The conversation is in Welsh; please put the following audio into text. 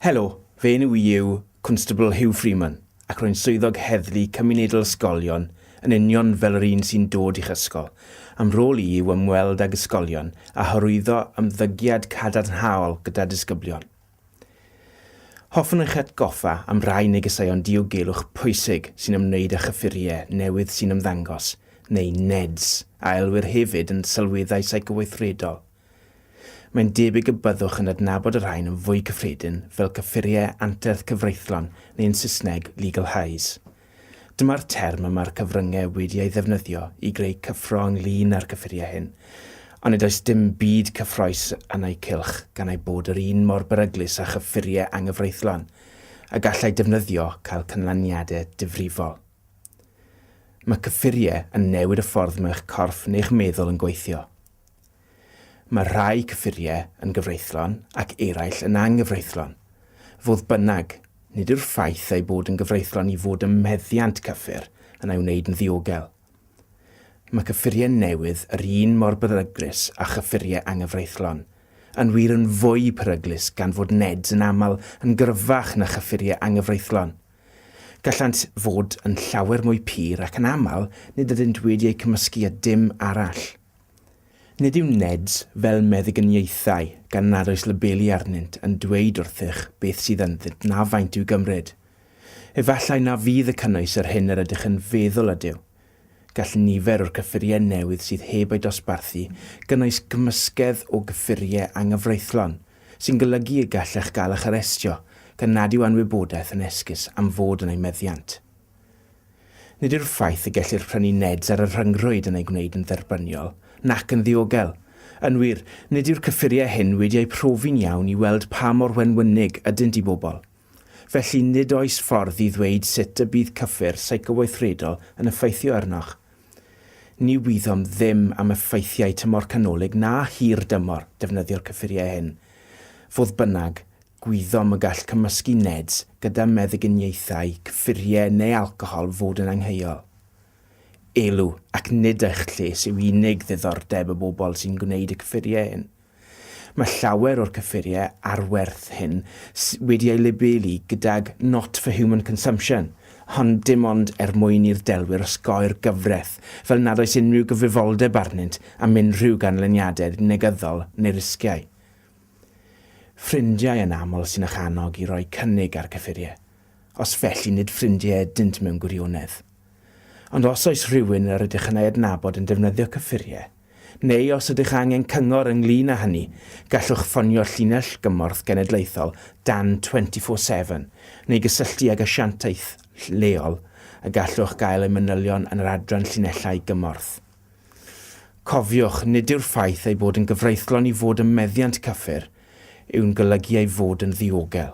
Helo, fy enw i yw Constable Hugh Freeman ac rwy'n swyddog heddlu cymunedol ysgolion yn union fel yr un sy'n dod i'ch ysgol. A'm rôl i yw ymweld ag ysgolion a hyrwyddo ymddygiad cadarnhaol gyda disgyblion. Hoffwn eich atgoffa am rai negeseuon diogelwch pwysig sy'n ymwneud â chyffuriau newydd sy'n ymddangos, neu NEDs, a elwir hefyd yn sylweddau seicoweithredol. Mae'n debyg y byddwch yn adnabod y rhain yn fwy cyffredin fel cyffuriau anterth cyfreithlon neu yn Saesneg legal highs. Dyma'r term y mae'r cyfryngau wedi ei ddefnyddio i greu cyffro ynglŷn â'r cyffuriau hyn, ond nid oes dim byd cyffrous yn eu cylch gan eu bod yr un mor beryglus â chyffuriau anghyfreithlon y gallai defnyddio cael canlyniadau difrifol. Mae cyffuriau yn newid y ffordd mae'ch corff neu'ch meddwl yn gweithio. Mae rhai cyffuriau yn gyfreithlon ac eraill yn anghyfreithlon. Fodd bynnag, nid yw'r ffaith eu bod yn gyfreithlon i fod ym meddiant cyffur yn ei wneud yn ddiogel. Mae cyffuriau newydd yr un mor beryglus â chyffuriau anghyfreithlon, yn wir yn fwy peryglus gan fod NEDs yn aml yn gryfach na chyffuriau anghyfreithlon. Gallant fod yn llawer mwy pur ac yn aml nid ydynt wedi eu cymysgu â dim arall. Nid yw NEDs fel meddyginiaethau gan nad oes labeli arnynt yn dweud wrthych beth sydd ynddynt na faint i'w gymryd. Efallai na fydd y cynnwys yr hyn yr ydych yn feddwl ydyw. Gall nifer o'r cyffuriau newydd sydd heb eu dosbarthu gynnwys cymysgedd o gyffuriau anghyfreithlon, sy'n golygu y gallech gael eich arestio gan nad yw anwybodaeth yn esgus am fod yn eu meddiant. Nid yw'r ffaith y gellir prynu nets ar y rhyngrwyd yn ei gwneud yn dderbyniol, nac yn ddiogel. Yn wir, nid yw'r cyffuriau hyn wedi eu profi'n iawn i weld pa mor wenwynig ydynt i bobl. Felly, nid oes ffordd i ddweud sut y bydd cyffur seicoweithredol yn effeithio arnoch. Ni wyddom ddim am effeithiau tymor canolig na hir dymor defnyddio'r cyffuriau hyn. Fodd bynnag, Gwyddom y gall cymysgu NEDs gyda meddyginiaethau, cyffuriau neu alcohol fod yn angheuol. Elw, ac nid eich lles yw unig ddiddordeb y bobl sy'n gwneud y cyffuriau hyn. Mae llawer o'r cyffuriau arwerth hyn wedi eu labelu gydag Not for Human Consumption, ond dim ond er mwyn i'r delwyr osgoi'r gyfraith, fel nad oes unrhyw gyfrifoldeb arnynt am unrhyw ganlyniadau negyddol neu risgiau. Ffrindiau yn aml sy'n eich annog i roi cynnig ar gyffuriau, os felly nid ffrindiau ydynt mewn gwirionedd. Ond os oes rhywun yr ydych yn ei adnabod yn defnyddio cyffuriau, neu os ydych angen cyngor ynglŷn â hynny, gallwch ffonio Llinell Gymorth Genedlaethol dan 24 Seven neu gysylltu ag asiantaeth lleol y gallwch gael eu manylion yn yr adran Llinellau Gymorth. Cofiwch, nid yw'r ffaith ei bod yn gyfreithlon i fod ym meddiant cyffur yw'n golygu ei fod yn ddiogel.